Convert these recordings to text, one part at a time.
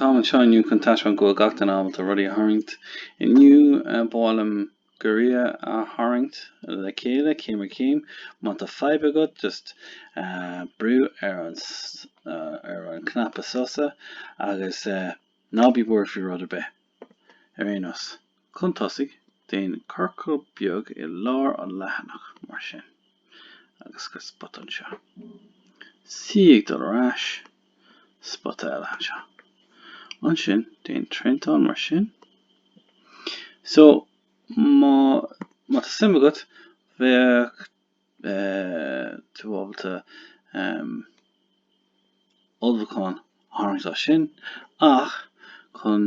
Táim anseo inniu chun taispeáint go bhfuil gach duine ábalta rudaí a tharraingt. Inniu, ba mhaith liom giorria a tharraingt le chéile, céim ar chéim. Má tá fadhb agat, just brú ar an ar an cnaipe sosa agus ná bí buartha faoi rud ar bith, ar aon nós. Chun tosaigh, déan ciorcal beag i lár an leathanach, mar sin, agus cuir spota anseo. C ag dul ar ais, spota eile anseo. Ansin, déan triantán, mar sin. So, má tá suim agat, bheadh beidh tú ábalta ulchabhán a tharraingt as sin ach chun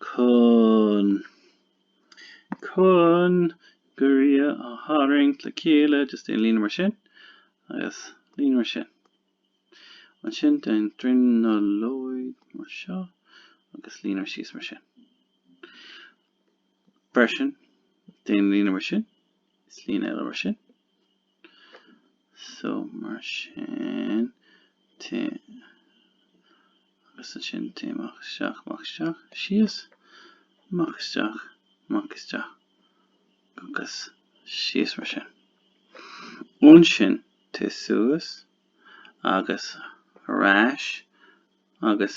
chun chun giorria a tharraingt le chéile just déan líne mar sin agus líne mar sin ansin déan dronuilleog mar seo agus líne síos mar sin freisin déan líne mar sin Is líne eile mar sin. So mar sin téigh agus ansin téigh amach isteach amach isteach síos amach isteach amach isteach agus síos mar sin. Ansin téigh suas agus ar ais agus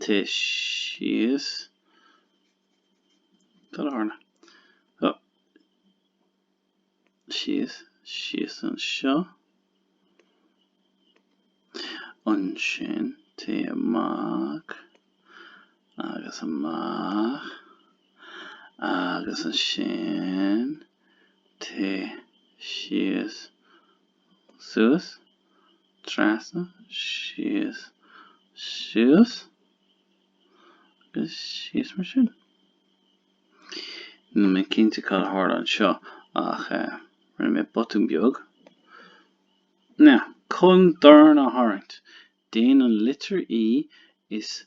Téigh síos. Cad a tharla? Oh. Síos, síos anseo. Ansin, téigh amach. Agus amach. Agus ansin, téigh síos. suas, trasna, síos, suas agus síos mar sin. Níl mé cinnte cad a tharla anseo ach rinne mé botún beag. Now, chun dorn a tharraingt, déan an litir E is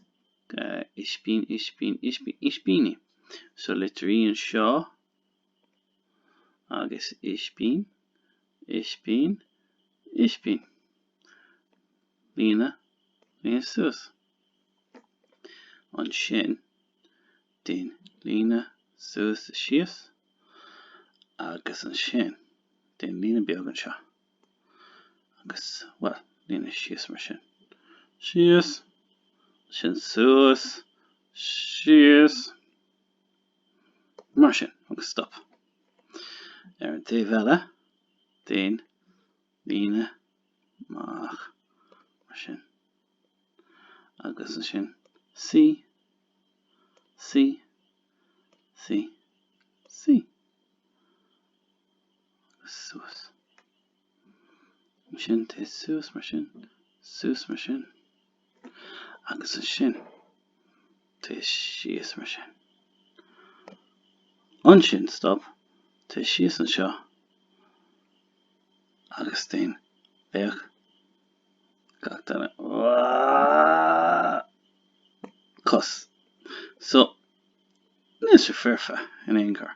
ispín, ispín, ispín, ispíní. So litir E anseo. Agus ispín, ispín, ispín. Líne, líne suas. Ansin, déan líne suas is síos. Agus ansin, déan líne beag anseo. Agus, bhuel, líne síos mar sin. Síos. Ansin suas. Síos. Mar sin, agus stop. Ar an taobh eile den líne amach. Mar sin. Agus ansin C, C, C, C. Agus suas. Ansin téigh suas mar sin, suas mar sin, agus ansin téigh síos mar sin. Ansin stop, téigh síos anseo agus déan féach gach duine. Cos. So, níl sé foirfe in aon chor.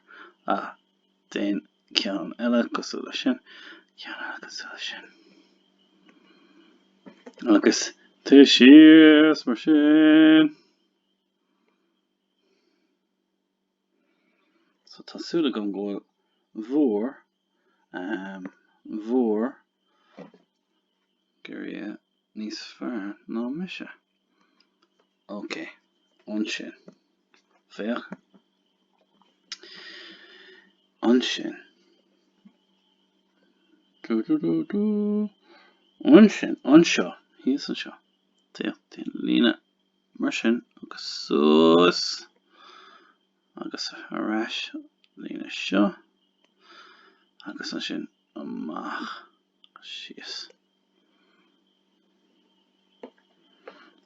Ah. Déan ceann eile cosúil leis sin. Ceann eile cosúil leis sin. Agus téigh síos mar sin. So tá súil agam go bhfuil bhúr, ehm, bhúr giorria níos fearr ná mise. Ok. Ansin. Féach. Ansin. Dú dú dú dú. Ansin. Anseo. Thíos anseo. Féach. Déan líne mar sin agus suas agus ar ais líne seo agus ansin amach. síos.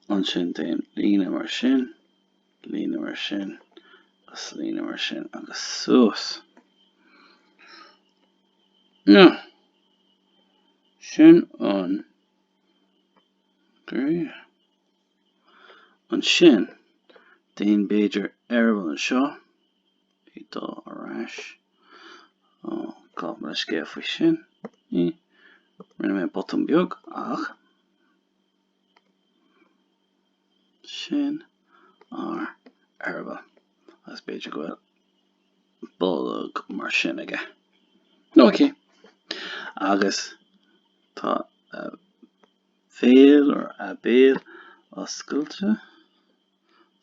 Ansin déan líne mar sin, líne mar sin, agus líne mar sin, agus suas. No. Sin an giorria. Ansin, déan b'fhéidir eireaball anseo, Ag dul ar ais. Ó, gabh mo leithscéal faoi sin. Ní. Rinne mé botún beag, ach. Sin an eireaball. Agus b'fhéidir go bhfuil bolg mar sin aige. Nó aici. Agus tá a bhéal ar a béal oscailte.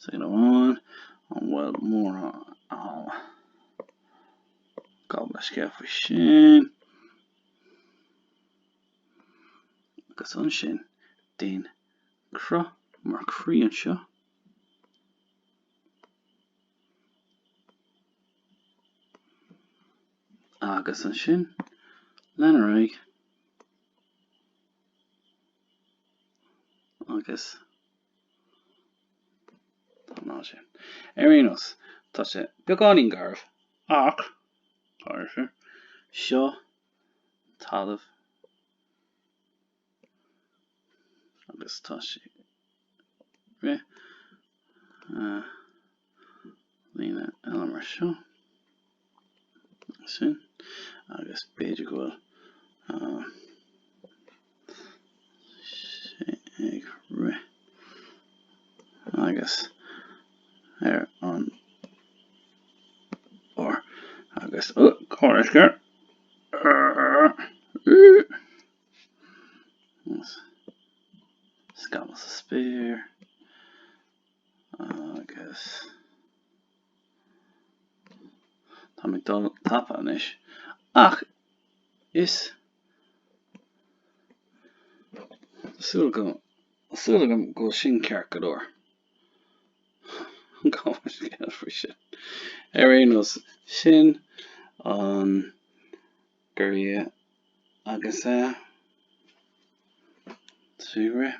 Sin amháin, an bhfuil mórán gabh mo leithscéal faoi sin? Agus ansin, déan cruth mar croí anseo. Agus ansin, lean ar aghaidh. Agus Ar aon nós, tá sé beagáinín garbh, ach tá ar nós seo talamh agus tá sé ag rith. líne eile mar seo, sin, agus b'fhéidir go bhfuil uh, sé ag rith agus ar an or agus ó cuirfear scamall sa spéir Agus táim ag dul tapa anois, ach is súil go súil agam go bhfuil sin ceart go leor. Cá bhfuil scéal faoi sin? Ar aon nós, sin an goraille agus é ag rith.